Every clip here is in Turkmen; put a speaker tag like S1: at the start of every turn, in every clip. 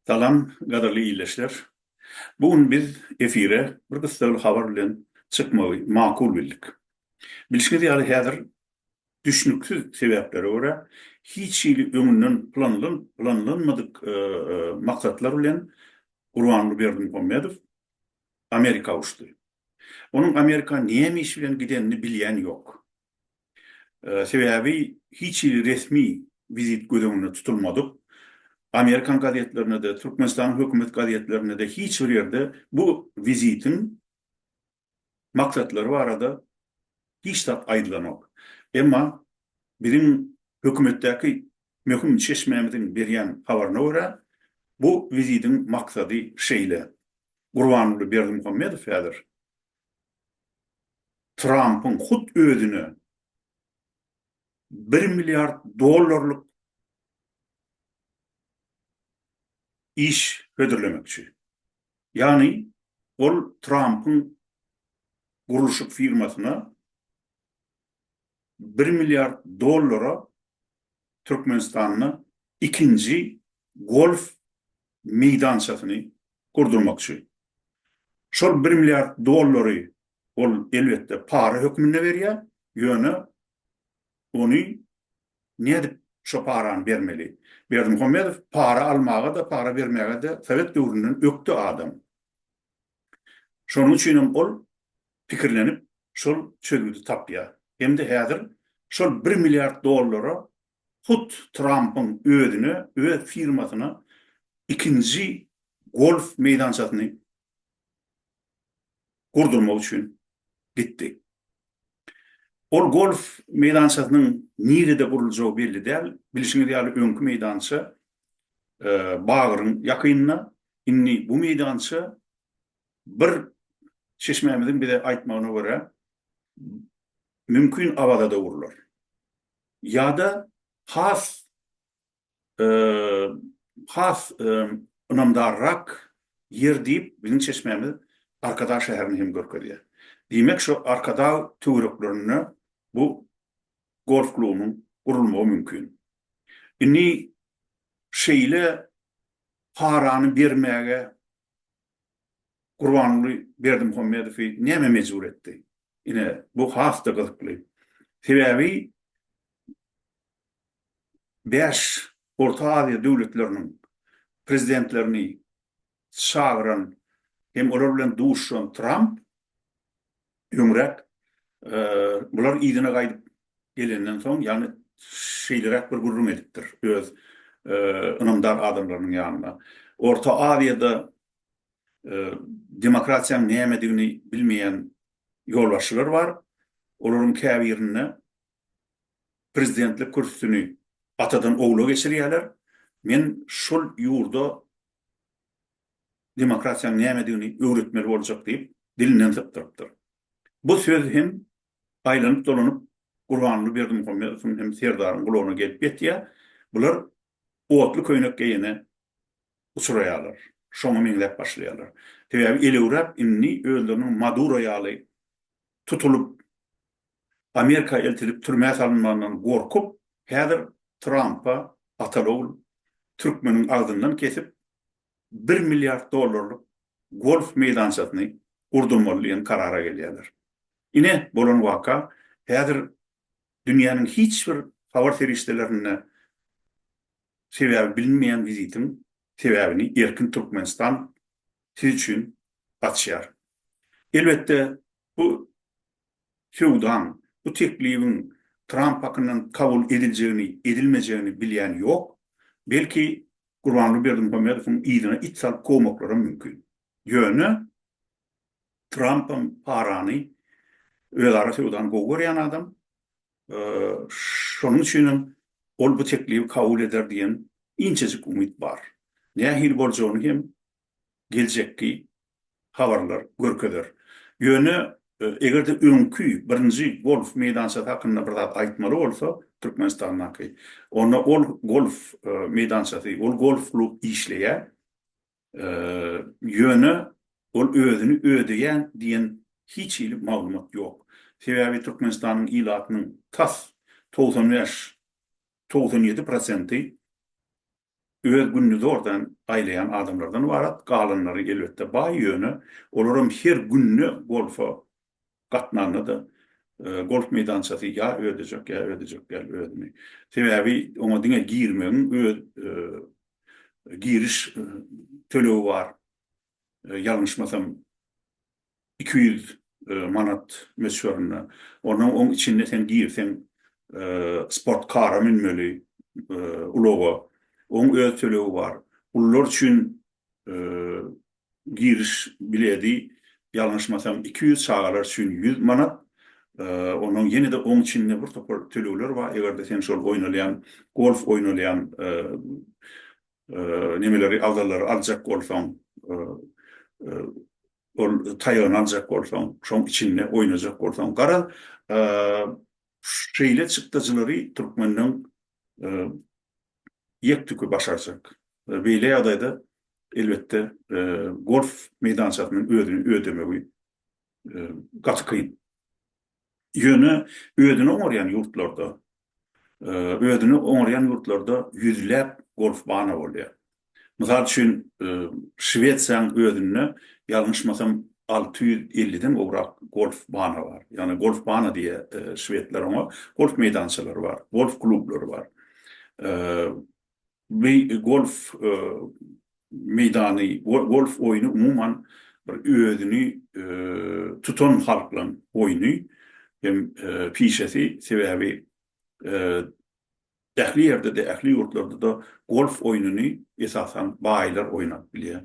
S1: Salam gadyrly ildeşler. Bu gün biz efire bir gyssagly habar bilen çykmagy makul bildik. Bilşiňiz ýaly häzir düşnüksiz sebäplere görä hiç hili öňünden planlanmadyk maksatlar bilen Gurbanguly Berdimuhamedow Amerika uçdy. Onuň Amerika näme iş bilen gidenini bilýän ýok. Sebäbi hiç hili resmi wizit göz öňünde tutulmadyk. Amerikan gazetlerinde-de, Türkmenistanyň hökümet gazetlerinde-de hiç bir ýerde bu wizitiň maksatlary barada hiç zat aýdylanok. Emma biziň hökümetdäki möhüm çeşmämiziň berýän habaryna görä, bu wizitiň maksady şeýle, Gurbanguly Berdimuhamedow häzir Trampyň hut özüne bir milliard dollarlyk iş hödürlemekçi. Ýagny, ol Trampyň gurluşyk firmasyna bir milliard dollara Türkmenistanda ikinji golf meýdançasyny gurdurmakçy. Şol bir milliard dollary ol elbetde para hökmünde berýär, ýöne ony nädip şo parany bermeli? Berdimuhamedow para almaga-da, para bermäge-de sowet döwründen ökde adam. Şonuň üçin hem ol pikirlenip, şol çözgüdi tapýar. Hem-de häzir şol bir milliard dollara hut Trampyň özüne, öz firmasyna ikinji golf meýdançasyny gurdurmak üçin gitdi. Ol golf meýdançasynyň nirede guruljagy belli däl. Bilşiňiz ýaly, öňki meýdança bagyryň ýakynynda. Indi bu meýdança bir çeşmämiziň bize aýtmagyna görä, mümkin Awazada urlar. Ýa-da has has ynamdarrak ýer diýip, biziň çeşmämiz Arkadag şäherini hem görkezýär. Diýmek, şu Arkadag töwereklerinde bu golf klubunyň gurulmagy mümkin. Indi şeýle parany bermäge Gurbanguly Berdimuhamedowy näme mejbur etdi? Ine, bu has-da gyzykly. Sebäbi bäş Orta Aziýa döwletleriniň prezidentlerini çagyran hem olar bilen duşuşan Tramp öňräk bular yzyna gaýdyp gelenden soň, ýagny şeýleräk bir gürrüň edipdir öz ynamdar adamlarynyň ýanynda. Orta Aziýada demokratiýanyň nämedigini bilmeýän ýolbaşçylar bar. Olaryň käbirinde prezidentlik kürsüsini atadan ogla geçirýärler. Men şol ýurda demokratiýanyň nämedigini öwretmeli boljak diýip, dilinden sypdyrypdyr. Bu söz hem aýlanyp-dolanyp Gurbanguly Berdimuhamedowyň hem Serdaryň gulagyna gelip ýetýär. Bular otly köýnek geýene uçraýarlar. Şoňa meňzäp başlaýarlar. Sebäbi elewräp indi özleriniň Maduro ýaly tutulyp, Amerika eltilip türmä salynmagyndan gorkup, häzir Trampa Atalogl türkmeniň agzyndan kesip, bir milliard dollarlyk golf meýdançasyny gurdurmaly diýen karara gelýärler. Ine, bolan waka, häzir dünýäniň hiç bir habar serişdelerinde sebäbi bilinmeýän wizitiň sebäbini erkin Türkmenistan siz üçin açýar. Elbetde, bu söwdaň, bu teklibiň Tramp hakyndan kabul ediljegini, edilmejegini bilýän ýok. Belki, Gurbanguly Berdimuhamedowyň yzyna it salyp kowmaklaram mümkin. Ýöne, Trampam parany, özara söwdany gowy görýän adam. Şonuň üçin hem ol bu teklibi kabul eder diýen inçejik umyt bar. Nähili boljagyny hem geljekki habarlar görkezer. Ýöne eger-de öňki birinji golf meýdançasy hakynda bir zat aýtmaly bolsa, Türkmenistandaky, onda ol golf meýdançasy, ol golf-klub işleýär. Ýöne ol özüni ödeýän diýen hiç hili maglumat ýok. Sebäbi Türkmenistanyň ilatynyň tas togsan bäş, togsan ýedi prosenty öz gününi zordan aýlaýan adamlardan ybarat, galanlary elbetde baý, ýöne olaram her günde bolsa gatnanda-da golf meýdançasy ýa ödejek, ýa ödejek däl özüni. Sebäbi oňa diňe girmegiň öz giriş tölegi bar. Ýalňyşmasam iki ýüz manat möçberinde. Onnoň oň içinde sen girseň sport kara münmeli ulaga. Oň öz tölegi bar. Ulular üçin Giriş biledi, ýalňyşmasam iki ýüz, çagalar üçin ýüz manat. Onuň ýene-de oň içinde bir topar tölegler bar, eger-de sen şol oýnalýan, golf oýnalýan nemeleri, agzallary aljak bolsaň, ol taýagyny aljak bolsaň, şoň içinde oýnajak bolsaň. Garaz, şeýle çykdajylary türkmeniň ýek-tüki başarjak. Beýle ýagdaýda, elbetde, golf meýdançasynyň özüni ödemegi gaty kyn. Ýöne özüni oňarýan ýurtlarda, özüni oňarýan ýurtlarda ýüzläp golfbana bolýar. Mysal üçin, Şwesiýanyň özünde, ýalňyşmasam, alty ýüz elliden gowrak golf bana bar. Ýagny golf bana diýýär şwedler oňa. Golf meýdançalary bar, golf klublary bar. Bu golf meýdany, golf oýny umuman bir özüni tutan halklaryň oýny hem pişesi. Sebäbi Ähli ýerde-de, ähli ýurtlarda-da golf oýnuny esasan baýlar oýnap bilýär.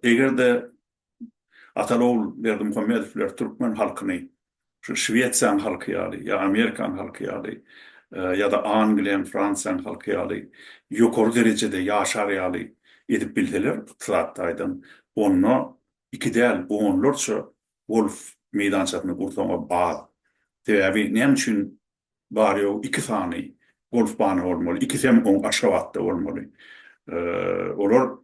S1: Eger-de Ataogul Berdimuhamedowler türkmen halkyny şu Şwesiýanyň halky ýaly, ýa Amerikanyň halky ýaly, ýa-da Angliýanyň, Fransiýanyň halky ýaly ýokary derejede ýaşar ýaly edip bilseler ykdysady taýdan, onda iki däl, onlarça golf meýdançasyny gursaň-a az. Sebäbi näme üçin bary ýogy iki sany golf bany bolmaly, ikisi hem oň Aşgabatda bolmaly. Olar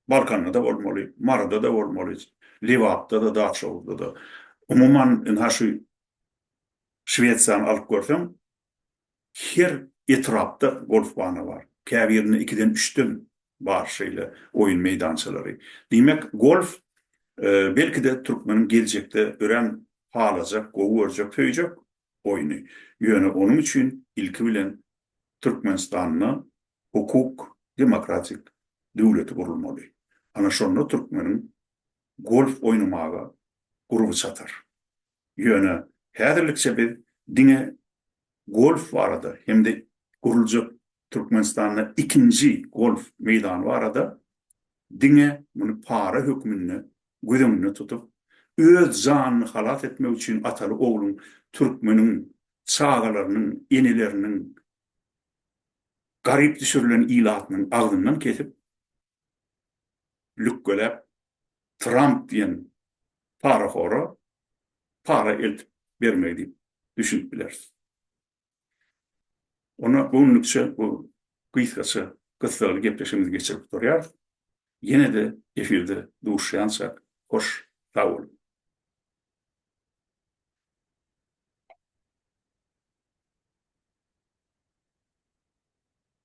S1: Balkanda-da bolmaly, Maryda-da bolmaly, Lebapda-da, Daçoguzda-da. Umuman, ynha şu Şwesiýany alyp görseň, her etrapda golf bany bar. Käbirinde ikiden, üçden bar şeýle oýun meýdançalary. Diýmek, golf, belki-de, türkmeniň geljekde örän halajak, gowy görjek, söýjek oýny. Ýöne onuň üçin ilki bilen Türkmenistanda hukuk, demokratik döwleti gurulmaly. Ana şonda türkmeniň golf oýnamaga gurby çatar. Ýöne häzirlikçe biz diňe golf barada hem-de guruljak Türkmenistanda ikinji golf meýdany barada diňe muny para hökmünde göz öňünde tutup, öz janyny halas etmek üçin ataly ogluň türkmeniň çagalarynyň, eneleriniň, garyp düşürilen ilatynyň agzyndan kesip, lükgeläp Tramp diýen parahora para eltip bermegi diýip düşünip bileris. Onda göwnülikçe bu gysgaça gyssagly gepleşigimizi geçirip gutarýarys. Ýene-de efirde duşýança hoş sag boluň.